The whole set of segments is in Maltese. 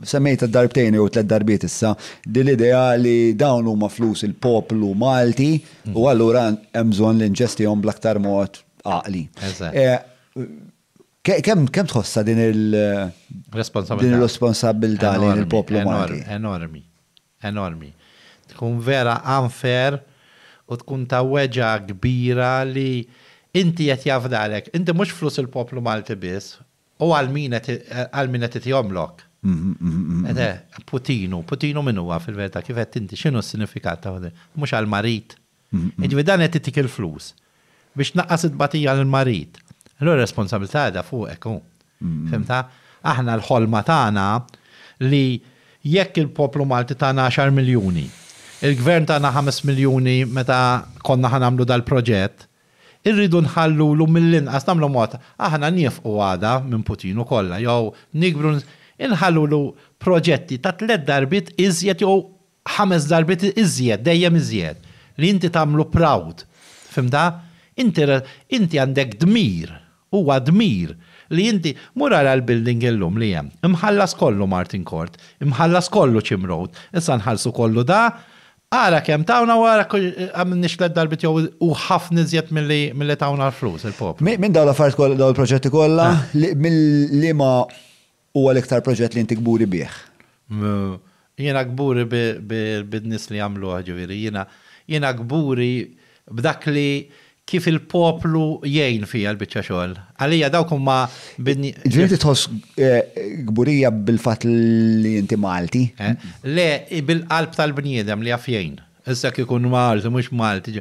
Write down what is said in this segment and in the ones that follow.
Semmejtha darbtejn jew tliet darbiet issa din l-idea li dawn huma flus il-poplu Malti u allura hemm bżonn li nġestihom bl-aktar mod għaqli. Kemm tħossha din il-responsabbiltà lejn il-poplu Malti? Enormi. Enormi. Tkun vera unfair u tkun ta' weġgħa kbira li inti qed jafdalek. Inti mhux flus il-poplu Malti biss, U għal min qed itihomlok? Ete, putinu. Putinu min huwa fil-verità? Kif għedt inti, x'inhu s-sinifikat ta' putinu? Mhux għall-marid? Jiġifieri dan qed itik il-flus biex tnaqqas it-tbatija lill-marid. Allura r-responsabbiltà qiegħda fuqek hu. Fhimtha? Aħna l-ħolma tagħna li jekk il-poplu Malti tana għaxar miljuni, il-Gvern tana ħames miljuni meta konna ħa nagħmlu dal-proġett, Irridu nħallulu mill-inqas nagħmlu mod, aħna niefqu għada minn Putin u kollha, jew nikbru, inħallulu proġetti ta' tliet darbiet iżjed jew ħames darbiet iżjed, dejjem iżjed, li inti tagħmlu proud. Fhimtha? Inti inti għandek dmir, huwa dmir, li inti, mur ara l-building illum li hemm, imħallas kollu Martin Court, imħallas kollu Chim Road, issa nħallsu kollu da, Ara kemm tawna u ara għamilniex tliet darbiet jew u ħafna iżjed milli tawna l-flus il-poplu. Minn dawn l-affarijiet kollha, dawn il-proġetti kollha, mill-liema huwa l-iktar proġett li int kburi bih? Jiena kburi bin-nies li għamluh, ġifieri jiena kburi b'dak li kif il-poplu jgħin fiha l-biċċa xogħol. Għalija dawk huma bin. Ġifieri inti tħoss kburija bil-fatt li inti Malti? Le, bil-qalb tal-bniedem li jaf jgħin. Issa kieku jkun Malti, mhux Malti,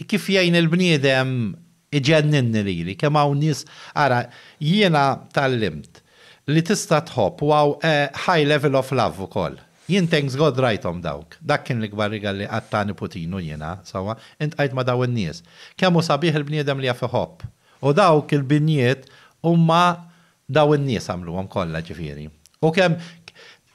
kif jgħin il-bniedem iġenninni lili, kemm hawn nies, ara, jiena tgħallimt li tista' tħobb u hawn high level of love ukoll. Jien thanks God rajthom dawk. Dak kien l-ikbar rigal li qatt ta niputinu jiena, sewwa, intqajt ma daw in-nies. Kemm hu sabiħ il-bniedem li jaf iħobb. U dawk il-binjiet huma daw in-nies għamluhom kollha ġifieri. U kemm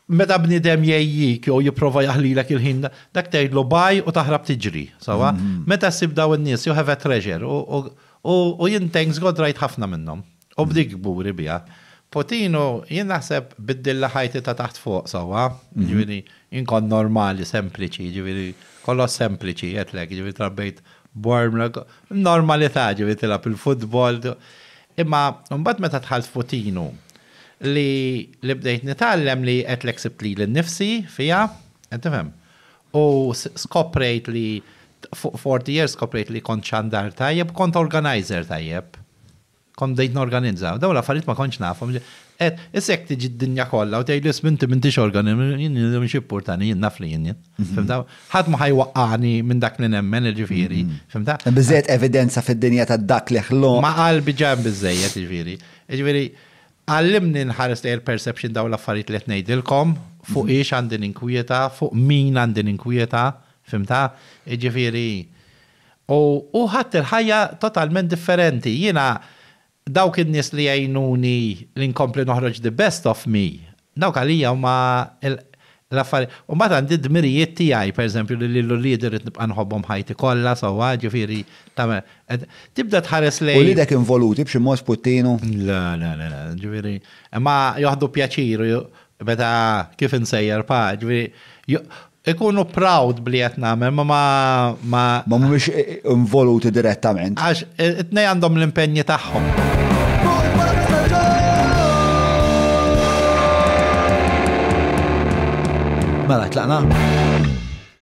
meta bniedem jgħejjik jew jipprova jaħlilek il-ħin dak tgħidlu bye u taħrab tiġri, sewwa. Meta ssib daw in-nies you have a treasure u u jien thanks God rajt ħafna minnhom. U bdiet kburi biha. Potino, jien naħseb biddilla ħajti ta' taħt fuq sewwa, jiġifieri inkun normali, sempliċi, jiġifieri kollox sempliċi għedtlek, jiġifieri trabbejt b'worm, normalità, jiġifieri tilgħab il-futbol. Imma mbagħad meta dħalt f'Potino li li bdejt nitgħallem li għedtlek sibt lili nnifsi fiha, qed tifhem? U skoprejt li fuq 40 years skoprejt li kont xandar tajjeb, kont organiser tajjeb. Kont bdejt norganizza. Dawn l-affarijiet ma kontx nafhom. Qed, issa jekk tiġi d-dinja kollha u tgħidli isma' inti m'intix organi-, jien jien xi jippurtani jien naf li jien jien. Fhimtha? Ħadd ma ħa jwaqqagħni minn dak li nemmen, jiġifieri. Fhimtha? Hemm biżżejjed evidenza fid-dinja ta' dak li ħloq. Ma' qalbi ġa hemm biżżejjed, jiġifieri. Jiġifieri, għallimni nħares lejn il-perception dawn l-affarijiet li qed ngħidilkom, fuq ix għandi ninkwieta, fuq min għandi ninkwieta. Fhimtha? Jiġifieri, U hu ħadt il-ħajja totalment differenti. Jiena dawk in-nies li jgħinuni li nkompli noħroġ the best of me, dawk għalija huma l-affarijiet. U mbagħad għandi d-dmirijiet tiegħi, pereżempju li lil uliedi rrid nibqa' nħobbhom ħajti kollha sewwa, jiġifieri tagħmel qed tibda tħares lejn. Uliedek involuti b'xi mod Puttinu? Le, le, le, jiġifieri imma joħdu pjaċir Meta kif insejjer pa, ġifieri ikunu proud b'li qed nagħmel ma ma ma. Ma mhumiex involuti direttament. Għax it-tnejn għandhom l-impenji tagħhom. Mela, tlaqna?